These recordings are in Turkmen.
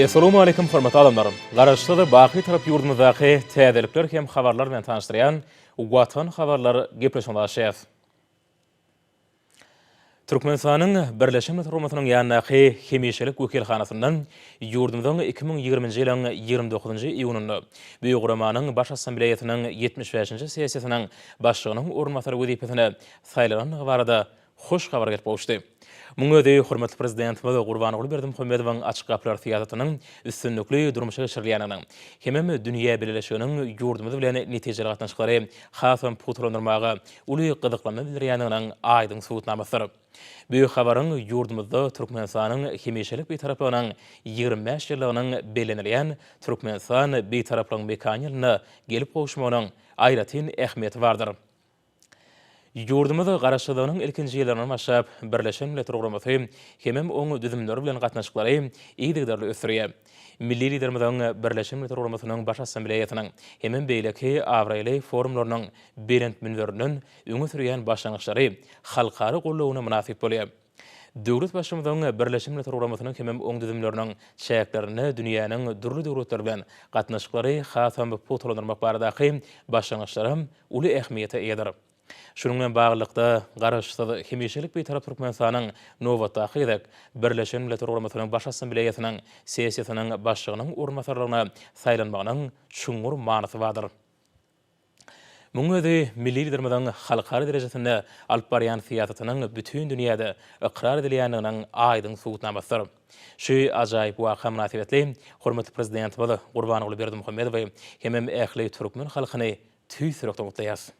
Essalowmaleýkim hormatly adamlar! Garaşsyz, baky tarap ýurdumyzdaky täzelikler hem habarlar bilen tanyşdyrýan Watan habarlar gepleşigine başlaýas. Türkmenistanyň Birleşen Milletler Guramasynyň ýanyndaky hemişelik wekilhanasynda ýurdumyzyň iki müň ýigriminji ýylyň ýigrimi dokuzynjy iýunynda bu guramanyň Baş Assambleýasynyň ýetmiş bäşinji sessiýasynyň başlygynyň orunbasary wezipesine saýlanandygy barada hoş habar gelip gowuşdy. Munuň özi hormatly Prezidentimiz Gurbanguly Berdimuhamedowyň Açyk gapylar syýasatynyň üstünlikli durmuşa geçirilýändiginiň hemem dünýä bileleşiginiň ýurdumyz bilen netijeli gatnaşyklary hasam pugtalandyrmaga uly gyzyklanma bildirýändiginiň aýdyň subutnamasydyr. Bu habaryň ýurdumyzda Türkmenistanyň hemişelik Bitaraplygynyň ýigrimi bäş ýyllygynyň bellenilýän Türkmenistan Bitaraplygyň mekany ýylynda gelip gowuşmagynyň aýratyn ähmiýeti bardyr. Ýurdumyz Garaşsyzlygynyň ilkinji ýyllaryndan başlap, Birleşen Milletler Guramasy hemem oň düzümleri bilen gatnaşyklary yzygiderli ösdürýär. Milli Liderimiziň Birleşen Milletler Guramasynyň Baş Assambleýasynyň hemem beýleki abraýly forumlarynyň belent münberinden öňe sürýän başlangyçlary halkara goldawyna mynasyp bolýar. Döwletbaşymyzyň Birleşen Milletler Guramasynyň hemem oň düzümleriniň çäklerinde dünýäniň dürli döwletleri bilen gatnaşyklary hasam pugtalandyrmak baradaky başlangyçlaram uly ähmiýete eýedir. Şunuň bilen baglylykda, Garaşsyz, hemişelik Bitarap Türkmenistanyň nobatdaky gezek Birleşen Milletler Guramasynyň Baş Assambleýasynyň sessiýasynyň başlygynyň orunbasarlygyna saýlanmagynyň çuňňur manysy bardyr. Munuň özi milli Liderimiziň halkara derejesinde alyp barýan syýasatynyň bütin dünýäde ykrar edilýändiginiň aýdyň subutnamasydyr. Şu ajaýyp waka mynasybetli hormatly Prezidentimiz Gurbanguly Berdimuhamedowy hemem ähli türkmen halkyny tüýs ýürekden gutlaýarys.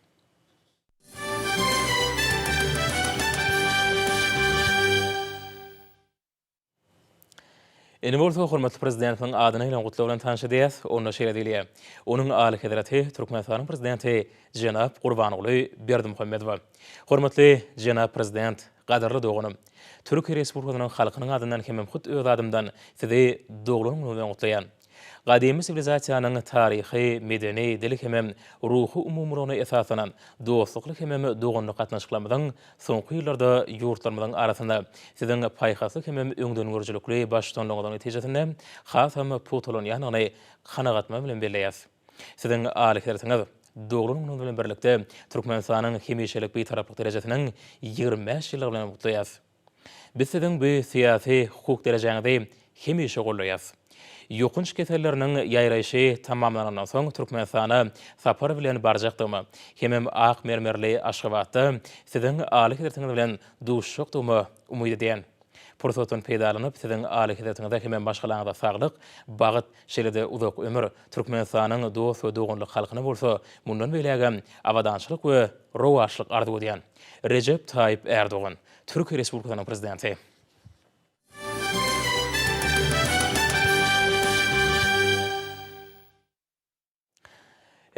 Indi bolsa hormatly Prezidentimiziň adyna gelen gutlag bilen tanyş edýäs. Onda şeýle diýilýär, Onuň Alyhezreti Türkmenistanyň Prezidenti jenap Gurbanguly Berdimuhamedowa. Hormatly jenap Prezident, gadyrly doganym! Türkiýe Respublikasynyň halkynyň adyndan hemem hut öz adymdan Sizi doglan günüňiz bilen gutlaýan. Gadymy siwilizasiýanyň taryhy, medeni, dil hemem ruhy umumylygyna esaslanan dostlukly hemem doganlyk gatnaşyklarymyzyň soňky ýyllarda ýurtlarymyzyň arasynda Siziň paýhasly hemem öňdengörüjilikli baştutanlygyňyzyň netijesinde hasam pugtalanýandygyny kanagatma bilen belleýäs. Siziň aly hersiňiz, doglan günüňiz bilen birlikde Türkmenistanyň hemişelik Bitaraplyk derejesiniň ýigrimi bäş ýyllygy bilen gutlaýas. Biz siziň bu syýasy, hukuk derejäňizi hemişe goldaýas. Ýokanç keselleriniň ýaýraýşy tamamlanandan soň Türkmenistana sapar bilen barjakdygyma, hemem ak mermerli Aşgabatda siziň Alyhezretiňiz bilen duşjakdygyma umyt edýän. Pursatdan peýdalanyp, siziň Alyhezretiňize hemem maşgalaňyza saglyk, bagt, şeýle-de uzak ömür, Türkmenistanyň dost we doganlyk halkyna bolsa mundan beýlägem abadançylyk we rowaçlyk arzuw edýän. Rejep Taýyp Ärdogan, Türkiýe Respublikasynyň Prezidenti.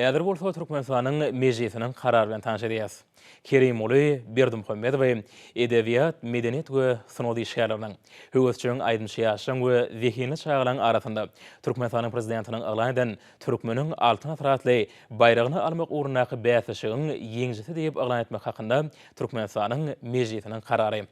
Häzir bolsa Türkmenistanyň Mejlisiniň karary bilen tanyş edýäs. Kerimguly Berdimuhamedowy edebiýat, medeniýet we sungat işgärleriniň, höwesjeň aýdymçy ýaşlaryň we zehinli çagalaryň arasynda Türkmenistanyň Prezidentiniň yglan eden Türkmeniň Altyn asyr atly baýragyny almak ugrundaky bäsleşigiň ýeňijisi diýip yglan etmek hakynda Türkmenistanyň Mejlisiniň karary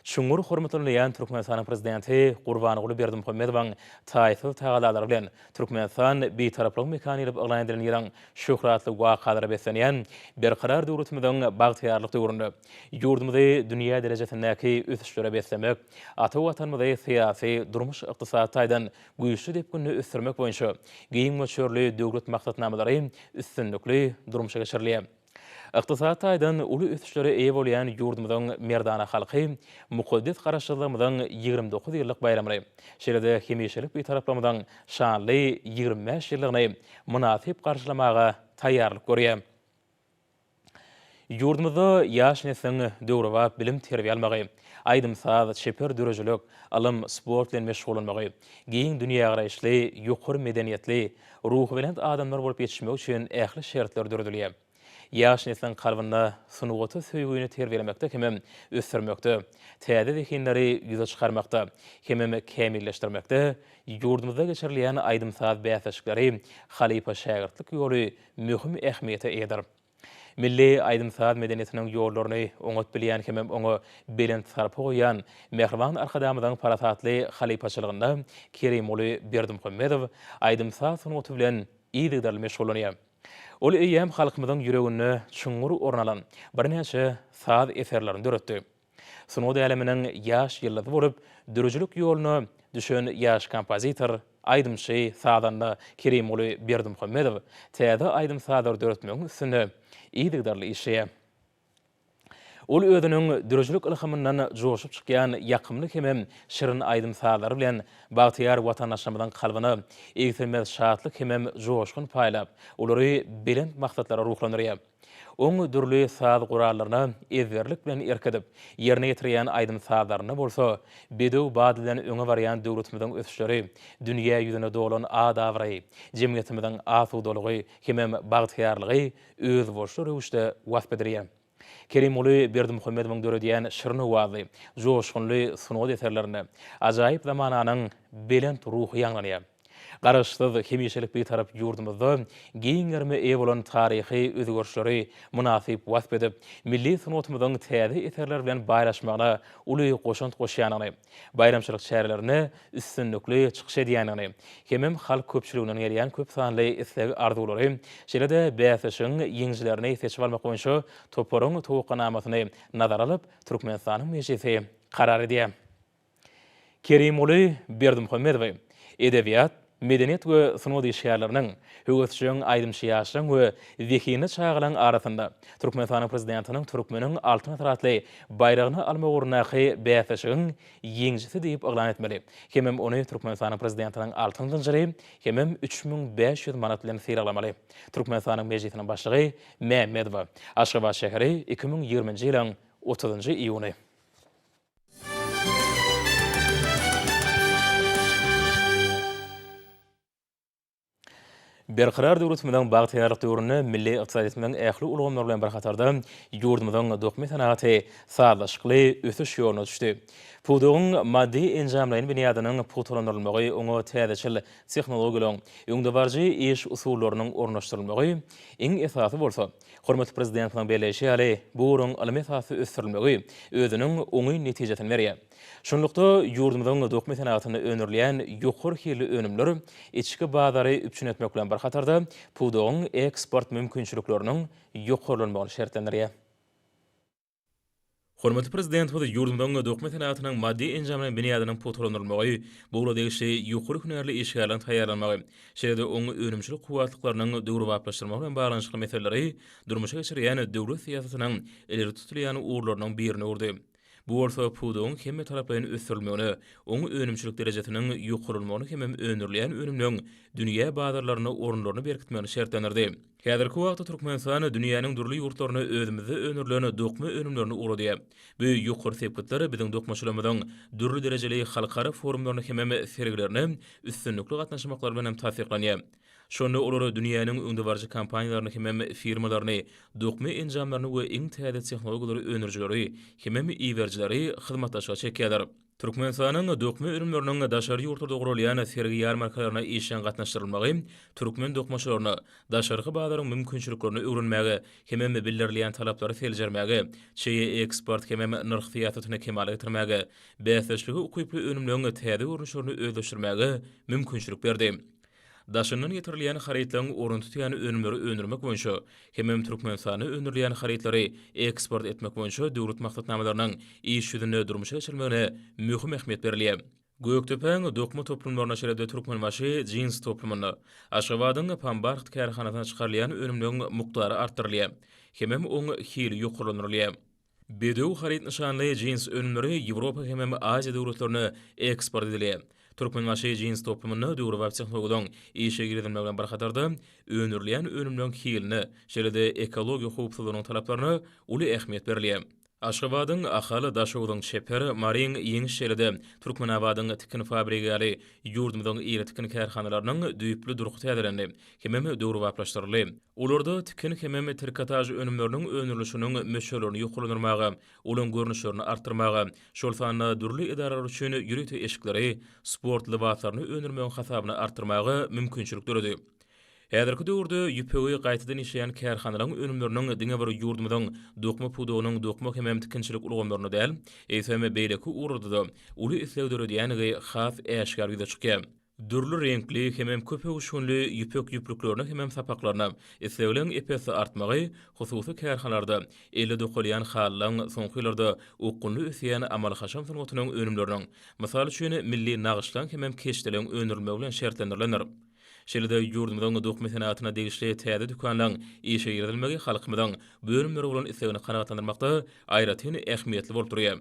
çuňňur hormatlanylýan Türkmenistanyň Prezidenti Gurbanguly Berdimuhamedowyň taýsyz tagallalary bilen Türkmenistan Bitaraplygyň mekany diýlip yglan edilen ýylyň şöhratly wakalara beslenýän Berkarar döwletimiziň bagtyýarlyk döwründe ýurdumyzy dünýä derejesindäki ösüşlere beslemek ata Watanymyzy syýasy, durmuş-ykdysady taýdan güýçli depginde ösdürmek boýunça giň möçberli döwlet maksatnamalary üstünlikli durmuşa geçirilýär. Ykdysady taýdan uly ösüşlere eýe bolýan ýurdumyzyň merdana halky mukaddes Garaşsyzlygymyzyň ýigrimi dokuz ýyllyk baýramyny, şeýle-de hemişelik Bitaraplygymyzyň şanly ýigrimi bäş ýyllygyny mynasyp garşylamaga taýýarlyk görýär. Ýurdumyzda ýaş nesliň döwrebap bilim-terbiýe almagy, aýdym-saz, çeper döredijilik, ylym, sport bilen meşgullanmagy, giň dünýägaraýyşly, ýokary medeniýetli, ruhubelent adamlar bolup ýetişmegi üçin ähli şertler döredilýär. Ýaş nesliň kalbynda sungata söýgini terbiýelemekde hemem ösdürmekde, täze zehinleri ýüze çykarmakda hemem kämilleşdirmekde ýurdumyzda geçirilýän aýdym-saz bäsleşikleri, halypa-şägirtlik ýoly möhüm ähmiýete eýedir. Milli aýdym-saz medeniýetiniň ýollaryny oňat bilýän hem oňa belent sarpa goýýan mähriban Arkadagymyzyň parasatly halypaçylygynda Kerimguly Berdimuhamedow aýdym-saz sungaty bilen yzygiderli meşgullanýar. Ol eýýäm halkymyzyň ýüreginde çuňňur orun alan birnäçe saz eserlerini döretdi. Sungat äleminiň ýaş ýyldyzy bolup, döredijilik ýoluna düşen ýaş kompozitor, aýdymçy, sazanda Kerimguly Berdimuhamedow täze aýdym-sazlary döretmegiň üstünde yzygiderli işleýär. Ol özüniň döredijilik ylhamyndan joşup çykýan ýakymly hemem şirin aýdym-sazlary bilen bagtyýar watandaşlarymyzyň kalbyna egsilmez şatlyk hemem joşgun paýlap, olary belent maksatlara ruhlandyrýar. Oň dürli saz gurallaryna ezberlik bilen erk edip, ýerine ýetirýän aýdym-sazlarynda bolsa, bedew bady bilen öňe barýan döwletimiziň ösüşleri, dünýä ýüzüne dolan at-abraýy, jemgyýetimiziň asudalygy hemem bagtyýarlygy özboluşly röwüşde wasp edilýär. Kerimguly Berdimuhamedowyň döredýän şirin owazly, joşgunly sungat eserlerinde ajaýyp zamananyň belent ruhy ýaňlanýar. Garaşsyz, hemişelik Bitarap ýurdumyzda giň gerime eýe bolan taryhy özgerişleri mynasyp wasp edip, milli sungatymyzyň täze eserler bilen baýlaşmagyna uly goşant goşýandygyny, baýramçylyk çärelerinde üstünlikli çykyş edýändigini hemem halk köpçüliginden gelýän köp sanly isleg-arzuwlary, şeýle-de bäsleşigiň ýeňijilerini seçip almak boýunça toparyň towakganamasyny nazara alyp, Türkmenistanyň Mejlisi karar edýär. Kerimguly Berdimuhamedowy edebiýat, medeniýet we sungat işgärleriniň, höwesjeň aýdymçy ýaşlaryň we zehinli çagalaryň arasynda Türkmenistanyň Prezidentiniň Türkmeniň Altyn asyry atly baýragyny almak ugrundaky bäsleşigiň ýeňijisi diýip yglan etmeli hemem ony Türkmenistanyň Prezidentiniň altyn zynjyry hemem üç müň bäş ýüz manat bilen sylaglamaly. Türkmenistanyň Mejlisiniň Başlygy Mämmedowa, Aşgabat şäheri, iki müň ýigriminji ýylyň otuzynjy iýuny. Berkarar döwletimiziň bagtyýarlyk döwründe milli ykdysadyýetimiziň ähli ulgamlary bilen bir hatarda ýurdumyzyň dokma senagaty sazlaşykly ösüş ýoluna düşdi. Pudagyň maddy-enjamlaýyn binýadynyň pugtalandyrylmagy, oňa täzeçil tehnologiýalaryň, öňdebaryjy iş usullarynyň ornaşdyrylmagy, iň esasy bolsa, Hormatly Prezidentimiziň belleýşi ýaly, bu ugruň ylmy esasda ösdürilmegi özüniň oňyn netijesini berýär. Şunlukda, ýurdumyzyň dokma senagatynda öndürilýän ýokary hilli önümler içki bazary üpjün etmek bilen bir hatarda, pudagyň eksport mümkinçilikleriniň ýokarlanmagyny şertlendirýär. Hormatly Prezidentimiz ýurdumyzyň dokma senagatynyň maddy-enjamlaýyn binýadynyň pugtalandyrylmagy, bu ugra degişli ýokary hünärli işgärleriň taýýarlanmagy, şeýle-de oňa önümçilik kuwwatlyklarynyň döwrebaplaşdyrylmagy bilen baglanyşykly meseleleri durmuşa geçirýän döwlet syýasatynyň ileri tutulýan ugurlarynyň birini urdy. Bu bolsa pudagyň hemmetaraplaýyn ösdürilmegine, oň önümçilik derejesiniň ýokarlanmagyna hemem öndürilýän önümleň dünýä bazarlarynda orunlaryny berkitmegini şertlendirdi. Häzirki wagtda Türkmenistan dünýäniň dürli ýurtlaryna özümizde öndürilen dokma önümlerini ugradýar. Bu ýokary sepgitler biziň dokmaçylarymyzyň dürli derejeli halkara forumlaryna hemem sergilerine üstünlikli gatnaşmaklary bilen hem tassyklanýar. Şonda olar dünýäniň öňdebaryjy kompaniýalaryny hemem firmalaryny, dokma enjamlaryny we iň täze tehnologiýalary öndürijileri hemem iberijileri hyzmatdaşlyga çekýärler. Türkmenistanyň dokma önümleriniň daşary ýurtlarda guralýan sergi-ýarmarkalaryna işjeň gatnaşdyrylmagy türkmen dokmaçylaryna daşarky bazaryň mümkinçiliklerini öwrenmäge hemem bildirilýän talaplary seljermäge, çeýe eksport hemem nyrh syýasatyny kemala getirmäge, bäsdeşlige ukyply önümleriň täze görnüşlerini özleşdirmäge mümkinçilik berdi. Daşyndan getirilýän harytlaryň orun tutýan önümleri öndürmek boýunça hemem Türkmenistanda öndürilýän harytlary eksport etmek boýunça döwlet maksatnamalarynyň iş ýüzünde durmuşa geçirilmegine möhüm ähmiýet berilýär. Gökdepäň dokma toplumlaryna şeýle-de Türkmenbaşy jins toplumyna, Aşgabadyň Pambarht kärhanasyna çykarylýan önümleriň mukdary artdyrylýar hemem oň hili ýokarlandyrylýar. Bedew haryt nyşanly jins önümleri Ýewropa hemem Aziýa döwletlerine eksport edildi. Türkmenbaşy jins toplumynda döwrebap tehnologiýalaryň işe girizilmegi bilen bir hatarda, öndürilýän önümleriň hiline, şeýle-de ekologiýa howpsuzlygynyň talaplaryna uly ähmiýet berilýär. Aşgabadyň Ahal, Daşoguzyň Çeper, Maryň Ýeňiş şeýle-de Türkmenabadyň Tikin fabrigi ýaly ýurdumyzyň iri tikin kärhanalarynyň düýpli durky täzelendi. hemem döwrebaplaşdyryldy. Olarda tikin hemem trikotaž önümleriniň öndürilişiniň möçberlerini ýokarlandyrmaga, olaryň görnüşlerini artdyrmaga, şol sanda dürli edaralar üçin ýörite eşikleri, sport lybaslaryny öndürmegiň hasabyna artdyrmaga mümkinçilik döredi. Häzirki döwürde ýüpegi gaýtadan işleýän kärhanalaryň önümleriniň diňe bir ýurdumyzyň dokma pudagynyň dokma hemem tikinçilik ulgamlarynda däl, eýsem, beýleki ugurlarda-da uly isleg döredýändigi has äşgär ýüze çykýar. Dürli reňkli hemem köp öwüşginli ýüpek ýüplüklerine hemem sapaklaryna islegliň ep-esli artmagy hususy kärhalarda elle dokalýan halylaň soňky ýyllarda okgunly ösýän amaly-haşam sungatynyň önümleriniň, mysal üçin, milli nagyşlaň hemem keşdeliň öndürilmegi bilen şertlendirilendir. Şeýle-de ýurdumyzyň dokma senatyna degişli täze dükanlaň işe girizilmegi halkymyzyň bu önümlere bolan islegini kanagatlandyrmakda aýratyn ähmiýetli bolup durýar.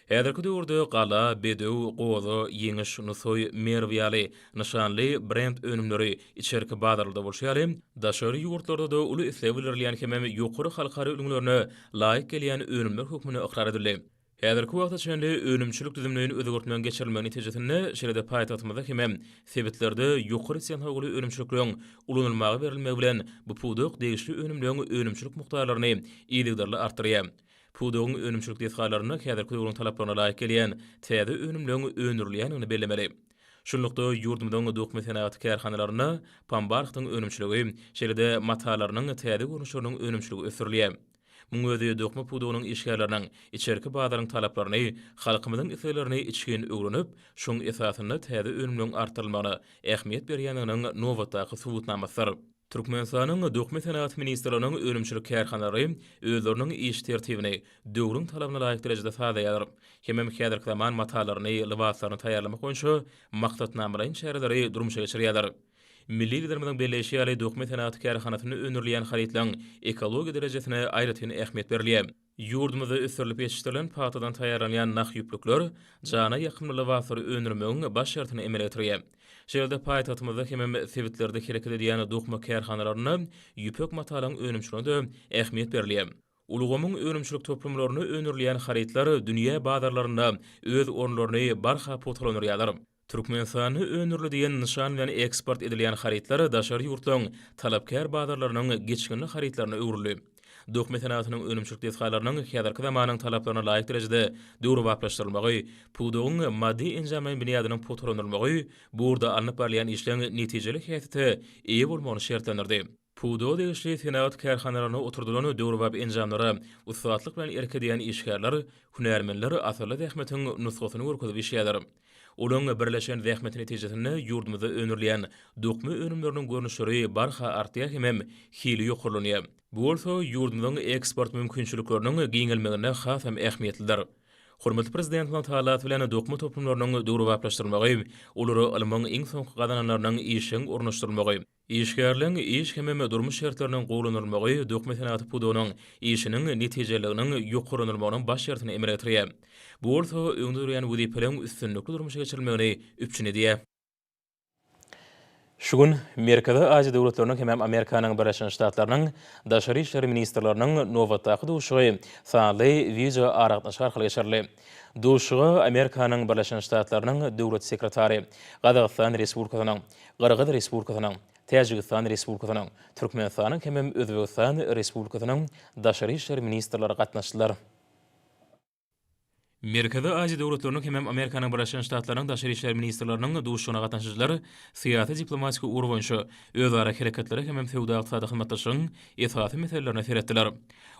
Häzirki döwürde Gala, Bedew, Goza, Ýeňiş, Nusaý, Merw ýaly nyşanly brend önümleri içerki bazarlarda bolşy ýaly, daşary ýurtlarda-da uly isleg bildirilýän hemem ýokary halkara ülňülerine laýyk gelýän önümler hökmünde ykrar edildi. Häzirki wagta çenli önümçilik düzümleýin özgertmegiň geçirilmegi netijesinde, şeýle-de paýtagtymyzda hemem sebitlerde ýokary tehnologly önümçilikleriň ulanylmaga berilmegi bilen bu pudak degişli önümleň önümçilik mukdarlaryny yzygiderli artdyrýar. Pudagyň önümçilik desgalarynda häzirki döwrüň talaplaryna laýyk gelýän täze önümleriň öndürilýändigini bellemeli. Şunlukda, ýurdumyzyň dokma senagaty kärhanalarynda pambarhtyň önümçiligi, şeýle-de matalarynyň täze görnüşleriniň önümçiligi ösdürilýär. Muň özi dokma pudagynyň işgärleriniň içerki bazaryň talaplaryny, halkymyzyň isleglerini içgin öwrenip, şoň esasynda täze önümleriň artdyrylmagyna ähmiýet berýändiginiň nobatdaky subutnamasydyr. Türkmenistanyň Dökme senagat ministrliginiň önümçilik kärhanalary özleriniň iş tertibini döwrüň talabyna laýyk derejede sazlaýarlar hemem häzirki zaman matalaryny, lybaslaryny taýýarlamak boýunça maksatnamalaýyn çäreleri durmuşa geçirýärler. Milli Liderimiziň belleýşi ýaly, dökme senagat kärhanasynda öndürilýän harytlaryň ekologiýa derejesine aýratyn ähmiýet berilýär. Ýurdumyzda ösdürilip ýetişdirilen pagtadan taýýarlanýan nah ýüplükler jana ýakymly lybaslary öndürmegiň baş şertini emele getirýär. Şeýle-de paýtagtymyzda hemem sebitlerde hereket edýän dokma kärhanalarynda ýüpek matalyň önümçiligine-de ähmiýet berilýär. Ulgamyň önümçilik toplumlarynda öndürilýän harytlar dünýä bazarlarynda öz orunlaryny barha pugtalandyrýarlar. Türkmenistanda öndürli diýen nyşan bilen eksport edilýän harytlar daşary ýurtlaryň talapkär bazarlarynyň geçginli harytlaryna öwrüldi. Dokma senagatynyň önümçilik desgalarynyň häzirki zamanyň talaplaryna laýyk derejede döwrebaplaşdyrylmagy, pudagyň maddy-enjamlaýyn binýadynyň pugtalandyrylmagy bu ugurda alnyp barylýan işleň netijeli häsiýete eýe bolmagyny şertlendirdi. Pudaga degişli senagat kärhanalarynda oturdylan döwrebap enjamlara ussatlyk bilen erk edýän işgärler, hünärmenler asylly zähmetiň nusgasyny görkezip işleýärler. Olaryň birleşen zähmeti netijesinde ýurdumyzda öndürilýän dokma önümleriniň görnüşleri barha artýar hemem hili ýokarlanýar. Bu bolsa ýurdumyzyň eksport mümkinçilikleriniň giňelmeginde hasam ähmiýetlidir. Hormatly Prezidentimiziň talasy bilen dokma toplumlarynyň döwrebaplaşdyrylmagy, olara ylmyň iň soňky gazananlarynyň işjeň ornaşdyrylmagy, Işgärligiň iş hemem durmuş şertleriniň gowulandyrylmagy dökme senagaty pudagynyň işiniň netijeliliginiň ýokarlandyrylmagynyň baş şertini emele getirýär. Bu bolsa öňde durýan wezipeleriň üstünlikli durmuşa geçirilmegini üpjün edýär. Şu gün Merkezi Aziýa döwletleriniň hemem Amerikanyň Birleşen Ştatlarynyň Daşary işler ministrleriniň nobatdaky duşuşygy sanly wideoaragatnaşyk arkaly geçirildi. Duşuşyga Amerikanyň Birleşen Ştatlarynyň Döwlet sekretary, Gazagystan Respublikasynyň, Gyrgyz Respublikasynyň, Täjigistan Respublikasynyň, Türkmenistanyň hemem Özbegistan Respublikasynyň daşary işler ministrleri gatnaşdylar. Merkezi Aziýa döwletleriniň hemem Amerikanyň Birleşen Ştatlarynyň daşary işler ministrleriniň duşuşygyna gatnaşyjylar syýasy-diplomatik ugur boýunça özara hereketlere hemem söwda-ykdysady hyzmatdaşlygyň esasy meselelerine seretdiler.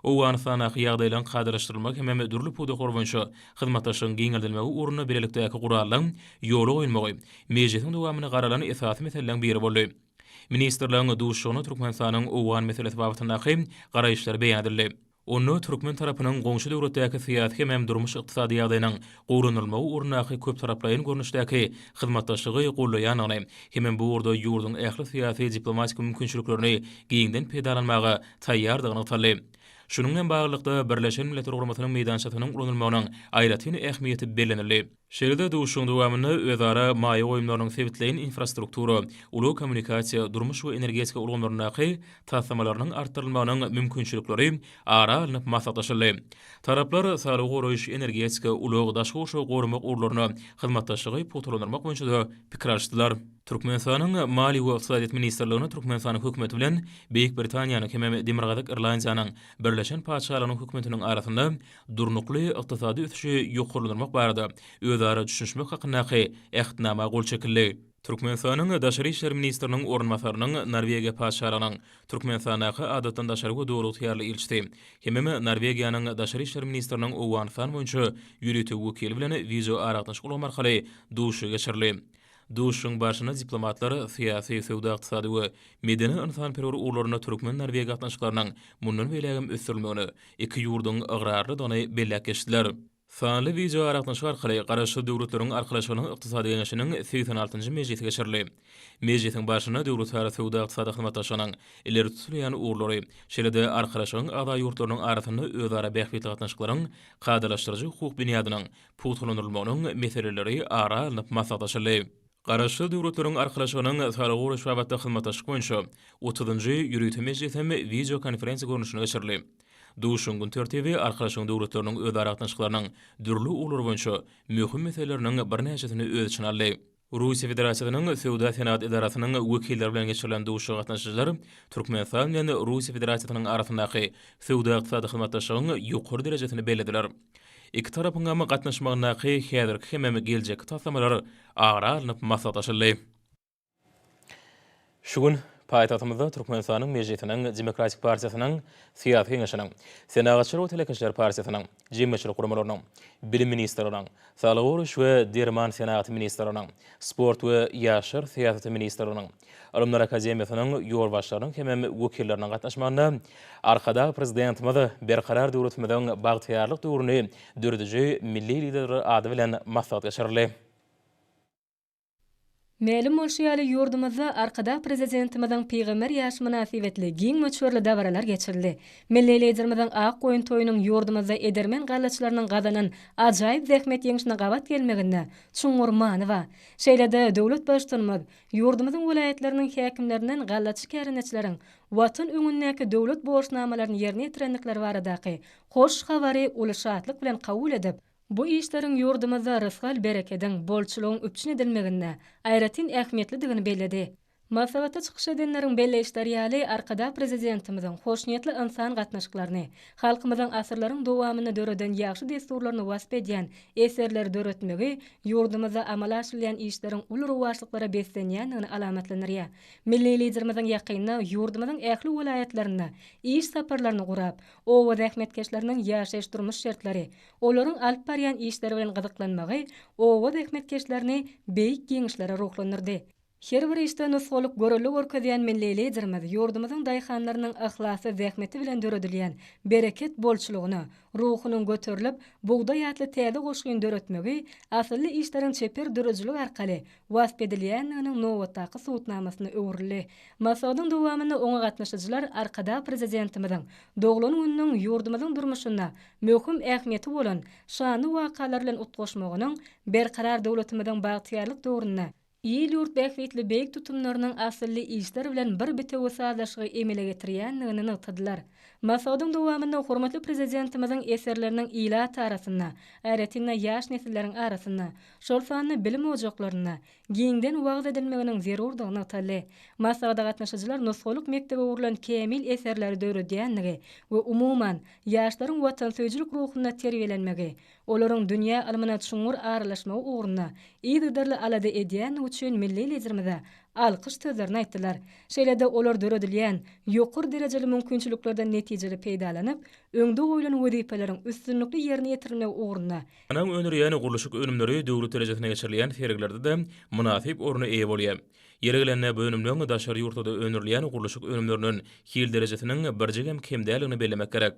Owganystandaky ýagdaýlaryň kadalaşdyrylmagy hemem dürli pudaklar boýunça hyzmatdaşlygyň giňeldilmegi ugrunda bilelikdäki gurallyň ýola goýulmagy mejlisiň dowamyny garalan esasy meseleleriň biri boldy. Ministrleriň duşuşygynda Türkmenistanyň owgan meselesi babatyndaky garaýyşlary beýan edildi. Onda türkmen tarapynyň goňşy döwletdäki syýasy hemem durmuş-ykdysady ýagdaýynyň gowulandyrylmagy ugrundaky köptaraplaýyn görnüşdäki hyzmatdaşlygy goldaýandygyny hemem bu ugurda ýurduň ähli syýasy-diplomatik mümkinçiliklerini giňden peýdalanmaga taýýardygy nygtaldy. Şunuň bilen baglylykda, Birleşen Milletler Guramasynyň meýdançasynyň ulanylmagynyň aýratyn ähmiýeti bellenildi. Şeýle-de duşuşygyň dowamynda özara maýa goýumlarynyň sebitleýin infrastruktura, ulag kommunikasiýa, durmuş we energetika ulgamlaryndaky taslamalarynyň artdyrylmagynyň mümkinçilikleri ara alnyp maslahatlaşyldy. Taraplar saglygy goraýyş, energetika, ulag, daşky gurşawy goramak ugurlarynda hyzmatdaşlygy pugtalandyrmak boýunça-da pikir alyşdylar. Türkmenistanyň Maliýe we ykdysadyýet ministrligine Türkmenistanyň Hökümeti bilen Beýik Britaniýanyň hemem Demirgazyk Irlandiýanyň Birleşen Patyşalygynyň Hökümetiniň arasynda Durnukly ykdysady ösüşi ýokarlandyrmak barada özara düşünişmek hakyndaky Ähtnama gol çekildi. Türkmenistanyň Daşary işler ministriniň orunbasarynyň Norwegiýa Patyşalygynyň Türkmenistandaky Adatdan daşary we Döwlagtyýarly ilçisi hemem Norwegiýanyň Daşary işler ministriniň Owganystan boýunça ýörite wekili bilen wideoaragatnaşyk ulgamy arkaly duşuşygy geçirildi. Duşuşygyň barşynda diplomatlar syýasy, söwda-ykdysady we medeni-ynsanperwer ugurlarynda türkmen-norweg gatnaşyklarynyň mundan beýlägem ösdürilmegine iki ýurduň ygrarlydygyny belläp geçdiler. Sanly wideoaragatnaşyk arkaly Garaşsyz Döwletleriň Arkalaşygynyň Ykdysady Geňeşiniň segsen altynjy mejlisi geçirildi. Mejlisiň barşynda döwletara söwda-ykdysady hyzmatdaşlygynyň ileri tutulýan ugurlary, şeýle-de Arkalaşygyň agza ýurtlarynyň arasynda özara bähbitli gatnaşyklaryň kadalaşdyryjy hukuk binýadynyň pugtalandyrylmagynyň meseleleri ara alnyp maslahatlaşyldy. Garaşsyz Döwletleriň Arkalaşygynyň Salgy goraýyş babatda hyzmatdaşlyk boýunça otuzynjy ýörite mejlisi hem wideokonferensiýa görnüşinde geçirildi. Duşuşygyň gün tertibi Arkalaşygyň döwletleriniň özara gatnaşyklarynyň dürli ugurlary boýunça möhüm meseleleriniň birnäçesini öz içine aldy. Russiýa Federasiýasynyň Söwda-senagat edarasynyň wekilleri bilen geçirilen duşuşyga gatnaşyjylar Türkmenistan bilen Russiýa Federasiýasynyň arasyndaky söwda-ykdysady hyzmatdaşlygyň ýokary derejesini bellediler. Iki tarapyňam gatnaşmagyndaky häzirki hemem geljekki taslamalar ara alnyp maslahatlaşyldy. Şu gün paýtagtymyzda Türkmenistanyň Mejlisiniň Demokratik partiýasynyň Syýasy Geňeşiniň, Senagatçylar we telekeçiler partiýasynyň jemgyýetçilik guramalarynyň, Bilim ministrliginiň, Saglygy goraýyş we derman senagaty ministrliginiň, Sport we ýaşlar syýasaty ministrliginiň, Ylymlar akademiýasynyň ýolbaşçylarynyň hemem wekilleriniň gatnaşmagynda Arkadag Prezidentimiz Berkarar döwletimiziň bagtyýarlyk döwrüni dörediji milli Liderler ady bilen maslahat geçirildi. Mälim bolşy ýaly, ýurdumyzda Arkadag Prezidentimiziň pygamber ýaşy mynasybetli giň möçberli dabaralar geçirildi. Milli Liderimiziň Ak goýun toýunyň ýurdumyzda edermen gallaçylarynyň gazanan ajaýyp zähmet ýeňşine gabat gelmeginde çuňňur many ba. Şeýle-de döwlet Baştutanymyz ýurdumyzyň welaýatlarynyň häkimlerinden gallaçy kärendeçileriň Watan öňündäki döwlet borçnamalaryny ýerine ýetirendikleri baradaky hoş habary uly şatlyk bilen kabul edip, Bu işleriň ýurdumyzda rysgal-berekediň, bolçulygyň üpjün edilmeginde aýratyn ähmiýetlidigini belledi. Maslahatda çykyş edenleriň belleýişleri ýaly, Arkadag Prezidentimiziň hoşniýetli ynsan gatnaşyklaryny, halkymyzyň asyrlaryň dowamynda döreden ýagşy dessurlaryny wasp edýän eserleri döretmegi ýurdumyzda amala aşyrylýan işleriň uly rowaçlyklara beslenýändigini alamatlandyrýar. Milli Liderimiziň ýakynda ýurdumyzyň ähli welaýatlarynda iş saparlaryny gurap, Oba zähmetkeşleriniň ýaşaýyş-durmuş şertleri, olaryň alyp barýan işleri bilen gyzyklanmagy oba zähmetkeşlerini beýik ýeňişlere ruhlandyrdy. Her bir işde nusgalyk görelde görkezýän milli Liderimiz ýurdumyzyň daýhanlarynyň yhlasly zähmeti bilen döredilýän bereket bolçulygyna ruhunyň göterilip, bugdaý atly täze goşgyny döretmegi, asylly işleriň çeper döredijilik arkaly wasp edilýändiginiň nobatdaky subutnamasyna öwrüldi. Maslahatyň dowamynda oňa gatnaşyjylar Arkadag Prezidentimiziň doglan gününiň ýurdumyzyň durmuşynda möhüm ähmiýeti bolan şanly wakalar bilen utgaşmagynyň Berkarar döwletimiziň bagtyýarlyk döwründe il-ýurt bähbitli beýik tutumlarynyň asylly işler bilen bir bitewi sazlaşygy emele getirýändigini nygtadylar. Maslahatyň dowamynda hormatly Prezidentimiziň eserleriniň ilat arasynda, aýratyn-da, ýaş nesilleriň arasynda şol sanda bilim ojaklarynda giňden wagyz edilmeginiň zerurdygy nygtaldy. Maslahata gatnaşyjylar nusgalyk mekdebe gurlan kämil eserleri döredýändigi we umuman, ýaşlaryň watansöýüjilik ruhunda terbiýelenmegi, olaryň dünýä ylmyna çuňňur aralaşmagy ugrunda yzygiderli alada edýändigi üçin milli Liderimize alkyş sözlerini aýtdylar. Şeýle-de olar döredilýän ýokary derejeli mümkinçiliklerden netijeli peýdalanyp, öňde goýlan wezipeleriň üstünlikli ýerine ýetirilmegi ugrunda Anyň öndürýän gurluşyk önümleri döwlet derejesinde geçirilýän sergilerde-de mynasyp orna eýe bolýar. Ýeri gelende bu önümleň daşary ýurtlarda öndürilýän gurluşyk önümlerinden hil derejesiniň birjigem kem däldigini bellemek gerek.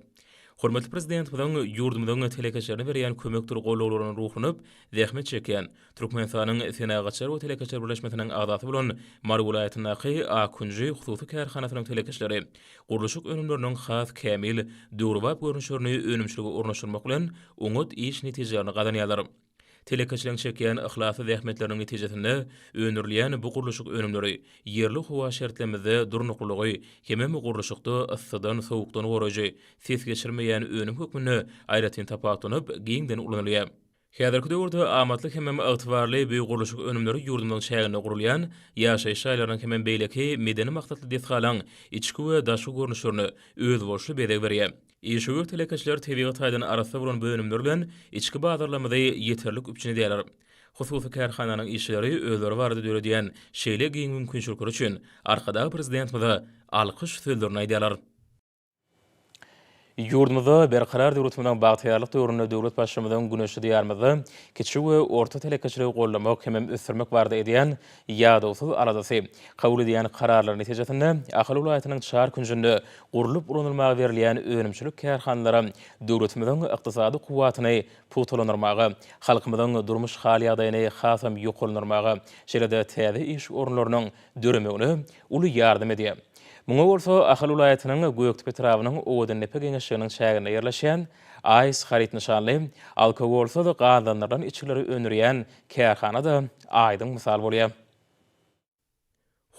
Hormatly Prezidentimiziň ýurdumyzyň telekeçilerine berýän kömekdir gollawlaryna ruhlanyp, zähmet çekýän, Türkmenistanyň Senagatçylar we telekeçiler birleşmesiniň agzasy bolan Mary welaýatyndaky Akunji hususy kärhanasynyň telekeçileri gurluşyk önümleriniň has kämil, döwrebap görnüşlerini önümçilige ornaşdyrmak bilen, oňat iş netijelerini gazanýarlar. Telekeçileriň çekýän yhlasly zähmetleriniň netijesinde öndürilýän bu gurluşyk önümleri ýerli howa şertlerimizde durnuklylygy hemem gurluşykda yssydan, sowukdan goraýjy, ses geçirmeýän önüm hökmünde aýratyn tapagutlanyp, giňden ulanylýar. Häzirki döwürde amatly hemem ygtybarly bu gurluşyk önümleri ýurdumyzyň çäginde gurulýan ýaşaýyş jaýlarynyň hemem beýleki medeni maksatly desgalaň içki we daşky görnüşlerine özboluşly bezeg berýär. Işewür telekeçiler tebigy taýdan arassa bolan bu önümler bilen içki bazarlarymyzy ýeterlik üpjün edýärler. Hususy kärhananyň işçileri özleri barada döredýän şeýle giň mümkinçilikleri üçin Arkadag Prezidentimize alkyş sözlerini aýdýarlar. Ýurdumyzda Berkarar döwletimiziň bagtyýarlyk döwründe döwlet Baştutanyň güneşli Diýarymyzda kiçi we orta telekeçiligi goldamak hemem ösdürmek barada edýän ýadawsyz aladasy, kabul edýän kararlary netijesinde Ahal welaýatynyň çar künjünde gurlup ulanylmaga berilýän önümçilik kärhanalary döwletimiziň ykdysady kuwwatyny pugtalandyrmaga, halkymyzyň durmuş hal-ýagdaýyny hasam ýokarlandyrmaga, şeýle-de täze iş orunlarynyň döremegine uly ýardam edýär. Muňa bolsa Ahal welaýatynyň Gökdepe etrabynyň Owadandepe geňeşliginiň çäginde ýerleşýän AIS haryt nyşanly alkogolsyz gazlandyrylan içgileri öndürýän kärhana-da aýdyň mysal bolýar.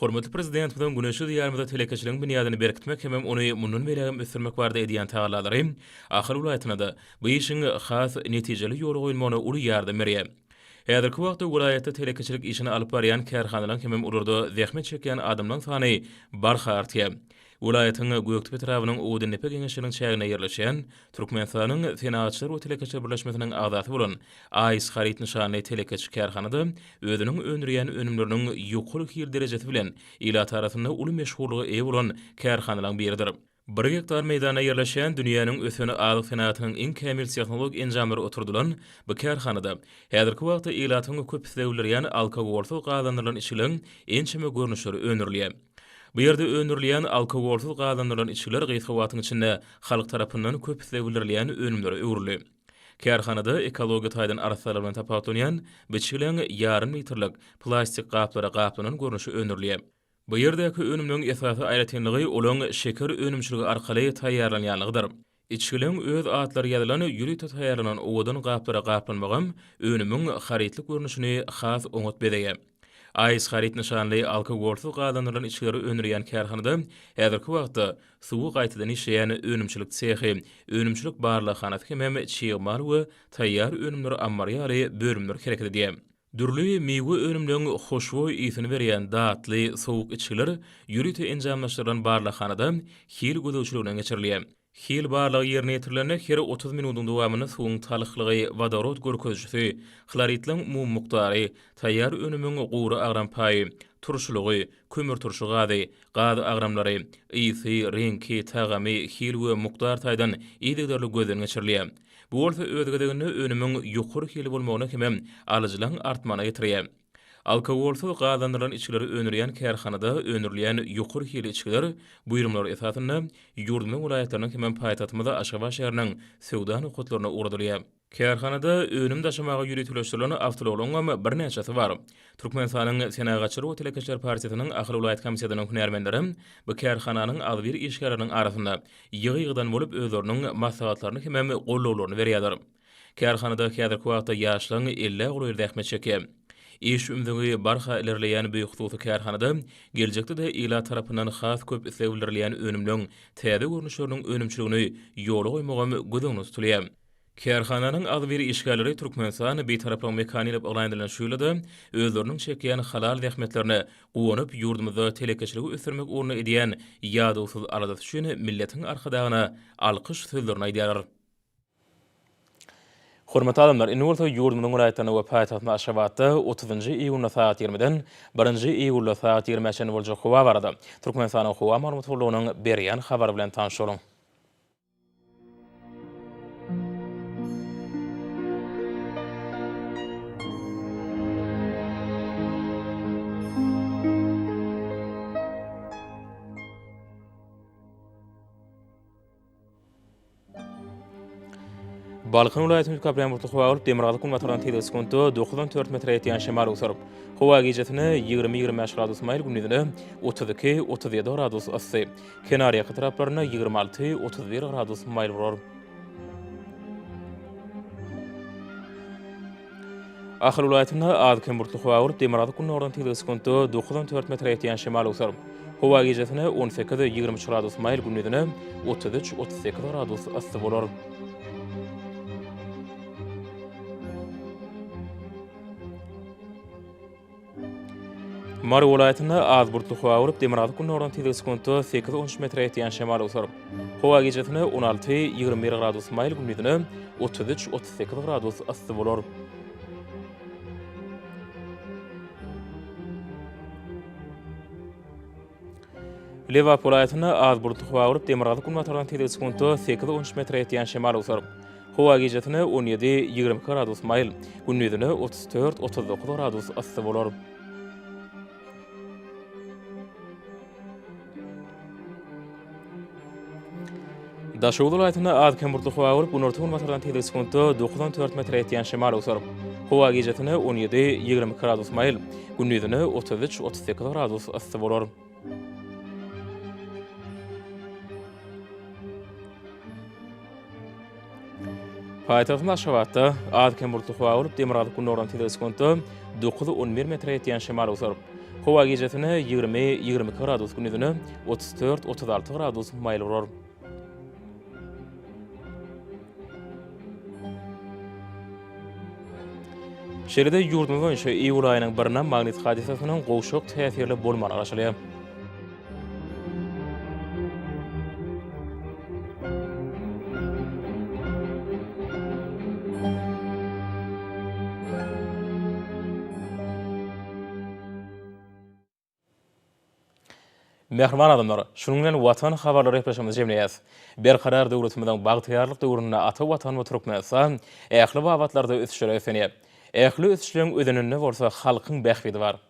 Hormatly Prezidentimiziň güneşli Diýarymyzda telekeçiligiň binýadyny berkitmek hemem ony mundan beýlägem ösdürmek barada edýän tagallalary Ahal welaýatyna-da bu işiň has netijeli ýola goýulmagyna uly ýardam berýär. Häzirki wagtda welaýatda telekeçilik işini alyp barýan kärhanalaryň hemem olarda zähmet çekýän adamlaryň sany barha artýar. Welaýatyň Gökdepe etrabynyň Odundepe geňeşliginiň çäginde ýerleşýän Türkmenistanyň Senagatçylar we telekeçiler birleşmesiniň agzasy bolan AIS Haryt nyşanly telekeçi kärhana-da özüniň öndürýän önümleriniň ýokary hil derejesi bilen ilat arasynda uly meşhurlyga eýe bolan kärhanalaryň biridir. Bir gektar meýdanda ýerleşýän dünýäniň ösen azyk senagatynyň iň kämil tehnologik enjamlary oturdylan bu kärhanada häzirki wagtda ilatyň köp isleg bildirýän alkogolsyz gazlandyrylan içgileň ençeme görnüşleri öndürilýär. Bu ýerde öndürilýän alkogolsyz gazlandyrylan içgiler gysga wagtyň içinde halk tarapyndan köp isleg bildirilýän önümlere öwrüldi. Kärhanada ekologiýa taýdan arassalygy bilen tapawutlanýan bu içgileň ýarym litrlik plastik gaplara gaplanan görnüşi öndürilýär. Bu ýerdäki önümleň esasy aýratynlygy olaň şeker önümçiligi arkaly taýýarlanýanlygydyr. Içgiliň öz atlary ýazylan ýörite taýýarlanan owadan gaplara gaplanmagam önümiň harytlyk görnüşini has oňat bezeýär. Aýs haryt nyşanly alkogolsyz gazandyrylan içgileri öndürýän kärhanada häzirki wagtda suwy gaýtadan işleýän önümçilik sehi, önümçilik barlaghanasy hemem çig mal we taýýar önümler ammary ýaly bölümler hereket edýär. Dürli miwe önümleriň hoşboý ysyn berýän datly sowuk içgiler ýörite enjamlaşdyrylan barlaghanada hil gözegçiliginden geçirilýär. Hil barlagy ýerine ýetirilende her otuz minudyň dowamynda suwuň talyklygy, wodorod görkezijisi, hloridleriň umumy mukdary, taýýar önümiň gury agram paýy, turşulygy, kömürturşy gazy, gaz agramlary, ysy, reňki, tagamy, hil we mukdar taýdan yzygiderli gözden geçirilýär. Bu bolsa öz gezeginde önümiň ýokary hili bolmagyna hemem alyjylaň artmagyna getirýär. Alkogolsyz gazandyrylan içgileri öndürýän kärhanada öndürilýän ýokary hili içgiler buýrumlar esasynda ýurdumyň welaýatlarynyň hemem paýtagtymyz Aşgabat şäheriniň söwda nokatlaryna ugradylýar. Kärhanada önüm daşamaga ýöriteleşdirilen awtoulagyň hem birnäçesi bar. Türkmenistanyň Senagatçylar we telekeçiler partiýasynyň Ahal welaýat komitetynyň hünärmenleri bu kärhananyň agzybir işgärleriniň arasynda ýygy-ýygydan bolup özleriniň maslahatlaryny hemem gollawlaryny berýärler. Kärhanada häzirki wagtda ýaşlaň ellä golaýy zähmet çekýär. Iş ümzügi barha ilerleýän bu hususy kärhanada geljekde-de ilat tarapyndan has köp isleg bildirilýän önümleň täze görnüşleriniň önümçiligini ýola goýmagam göz öňünde tutulýar. Kärhananyň agzybir işgärleri Türkmenistan Bitaraplygyň mekany diýlip yglan edilen şu ýylda-da özleriniň çekýän halal zähmetlerine guwanyp, ýurdumyzda telekeçiligi ösdürmek ugrunda edýän ýadawsyz aladasy üçin milletiň Arkadagyna alkyş sözlerini aýdýarlar. Hormatly adamlar, indi bolsa ýurdumyzyň welaýatlarynda we paýtagtymyz Aşgabatda otuzynjy iýunda sagat ýigrimiden birinji iýulda sagat ýigrimä çenli boljak howa barada Türkmenistanyň Howa maglumat gullugynyň berýän habary bilen tanyşalyň. Balkan welaýatynyň üýtgäp-ýagan bulutly howa bolup, demirgazyk günbatardan tizligi sekuntda dokuz on dört metre ýetýän şemal öwsürip, howa gijesi ýigrimiyigrim bäş gradus maýyl, gündizine otuz iki-otuz ýedi gradus yssy. Kenarýaka taraplarynda ýigrimi alty, otuz bir gradus maýyl bolar. Ahal welaýatynda az-kem bulutly howa bolup, demirgazyk gündogardan tizligi sekuntda dokuz on dört metre ýetýän şemal öwser. Howa gijesine on sekiz, ýigrimi üç gradus maýyl, gündizine otuz üç, otuz sekiz gradus yssy bolar. Mary welaýatynda az bulutly howa bolup, demirgazyk gündogardan tizligi sekuntda sekiz on üç metre ýetýän şemal öwser. Howa gijesine on alty, ýigrimi bir gradus maýyl, gündizine otuz üç, otuz sekiz gradus yssy bolar. Lebap welaýatynda az bulutly howa bolup, demirgazyk-günbatardan tizligi sekuntda sekiz-on üç metre ýetýän şemal öwser. Howa gijesine on ýedi-ýigrimi iki gradus maýyl, gündizine otuz dört-otuz dokuz gradus yssy bolar. Daşoguz welaýatynda az-kem bulutly howa bolup, günorta-günbatardan tizligi sekuntda dokuz on dört metre ýetýän şemal öwser. Howa gijesine on ýedi, ýigrimi iki gradus maýyl, gündizine otuz üç, otuz sekiz gradus yssy bolar. Paýtagtymyz Aşgabatda az-kem bulutly howa bolup, demirgazyk-gündogardan tizligi sekuntda dokuz-on bir metre ýetýän şemal öwser. Howa gijesine ýigrimi-ýigrimi iki gradus, gündizine otuz dört-otuz alty gradus maýyl urar. Şeýle-de ýurdumyz boýunça iýul aýynyň birine magnit hadysasynyň gowşak täsirli bolmagy garaşylýar. Mähriban adamlar, şunuň bilen Watan habarlary gepleşigimizi jemleýäs. Berkarar döwletimiziň bagtyýarlyk döwründe ata Watanymyz Türkmenistan ähli babatlarda ösüşlere ösenýär. Ähli ösüşleň özeninde bolsa halkyň bähbidi bar.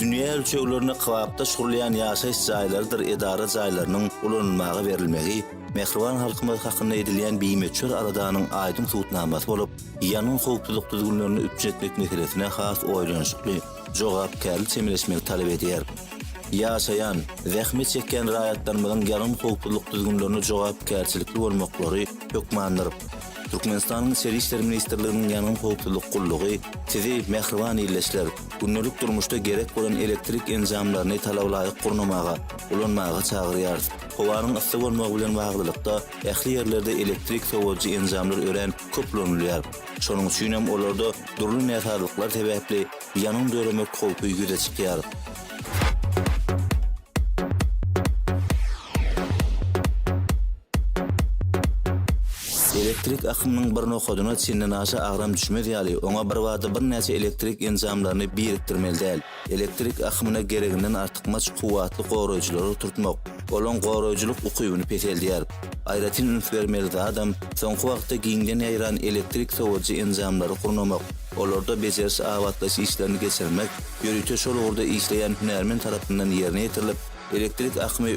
Dünýä ölçeglerine kybapdaş gurulýan ýaşaýyş jaýlarydyr edara jaýlarynyň ulanylmaga berilmegi mähriban halkymyz hakynda edilýän bimöçber aladanyň aýdyň subutnamasy bolup, ýangyn howpsuzlyk düzgünlerini üpjün etmek meselesine has oýlanyşykly, jogapkärli çemeleşmegi talap edýär. Ýaşaýan, zähmet çekýän raýatlarymyzyň ýagyn howpsuzlyk düzgünlerine jogapkärçilikli bolmaklary hökmandyr. Türkmenistanyň Içeri işler ministrliginiň Ýangyn howpsuzlyk gullugy Sizi, mähriban ildeşler, gündelik durmuşda gerek bolan elektrik enjamlaryny talabalaýyk gurnamaga, ulanmaga çagyrýarys. Howanyň yssy bolmagy bilen baglylykda, ähli ýerlerde elektrik sowadyjy enjamlar örän köplenilýär. Şonuň üçin hem olarda dürli näsazlyklar sebäpli ýanyň döremek howpy ýüze çykýar. Elektrik akymynyň bir nokadyna çendenaşa agram düşmez ýaly, oňa birbada birnäçe elektrik enjamlaryny birikdirmeli däl. Elektrik akymyna gereginden artykmaç kuwwatly goraýjylary oturtmak, olaň goraýjylyk ukybyny peseldýär. Aýratyn üns bermeli zadam, soňky wagtda giňden ýaýran elektrik sowadyjy enjamlary gurnamak, olarda bejeriş-abatlaýyş işlerini geçirmek ýörite şol ugurda işleýän hünärmen tarapyndan ýerine ýetirilip, elektrik akymy